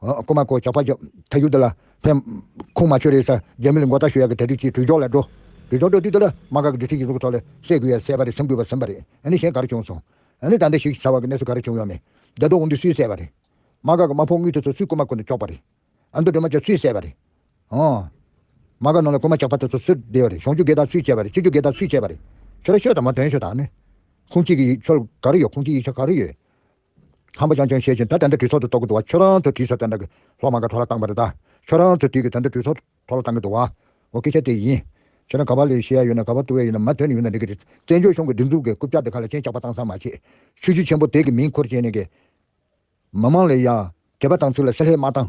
ཀོ་མ་ཀོ་ཇག་ཕག་ཇག་ཐ་ཡུལ་དུ་ལ་ཕན། ཁུངས་མ་ཆོས་རེད་ས་རྒྱ་མི་ལ་མགོ་བཏགས་ཞུ་ཡག་གི་དལ་དུས་ཀྱི་དུས་འཇོག་ལ་འགྲོ། དུས་འཇོག་འགྲོ་དུས་དུ་ལ་མ་དགའ་གི་འདུ་ཤེས་ཡིག་གཟུགས་ཐོག་ལ་སད་དགོས་ཡ་སད་པ་རེད་སེམས་དགོས་པ་སེམས་པ་རེད་ཨ་ནི་གཞན་ག་རེ་བྱུང་སོང་ཨ་ནི་ད་ལྟ་ཞིག་ཟ་བ་གི་གནས་ཚུལ་ག་རེ་བྱུང་ཡོད་མེད་རྒྱ་སྟོག་དགུན་དུས་སུས་སད་པ་རེད་མ་དགའ་གི་མ་ཕོག་དངུལ་དེ་ཚོ་སུས་ཀོ་མ་ཀོ་ནས་གཅོག་པ་རེད་ཨ་མདོ་སྒྲོལ་མ་ཅག་སུས་སད་པ་རེད་ཨ། མ་དགའ་ནང་ལ་ཀོ་མ་ཇག་ཕག་དེ་ཚོ་སུས་བསྡད་པ་རེད་གཞོང་རྒྱུ་སྒེར་བདག་སུས་བྱས་པ་རེད་ཕྱི་རྒྱུ་སྒེར་བདག་སུས་བྱས་པ་རེད་ཁྱོད་ར་ཤོད་དང་མ་དོན་ཤོད་དང་ཨ་ནི་ཁུངས་གཅིག་གི་ཡིག་ཆོལ་ག་རེ་ཡོད་ཁུངས་གཅིག་ཡིག་ཆ་ག་རེ་ཡོད། ཧམ་པ་ཅང་ཅང་བཤད་ཅིང་ད་དེ་འདྲ་དྲི་ཚོགས་དུ་གཏོགས་ཀྱི་འདུག་བ་ཁྱོད་རང་ཚོ་དྲི་ཚོགས་དེ་འདྲ་གི་ལྷོག་མ་ག་གྲོ་ལ་བཏང་བ་རེད་ད་ཁྱོད་རང་ཚོ་དྲི་གི་དེ་འདྲ་དྲི་ཚོགས་གྲོ་ལ་བཏང་གི་འདུག་བ་འོ་སྐད་ཆ་དེ་ཡིན་ཁྱོད་རང་ག་བ་ལས་བཤད་ཡ་ཡོད་ན་ག་བ་བཏུ་བས་ཡོད་ན་མ་དོན་ཡོད་ན་འགྲིག་གི་རེད་བཙན་བྱོལ་གཞུང་གི་སྒྲིག་འཛུགས་ཀྱི་རྐུབ་ཀྱག་དེ་ག་ལ་ཅན་བཅག་པ་བཏང་སང་མ་བྱེད་ཆུ་བྱི་ཆེན་པོ་དེ་གི་མིང་འཁོར་བྱས་ནས་གི་མི་མང་ལས་ཡ་གད་པ་བཏང་ཚུལ་ལ་བསྲེ་ལྷད་མ་བཏང།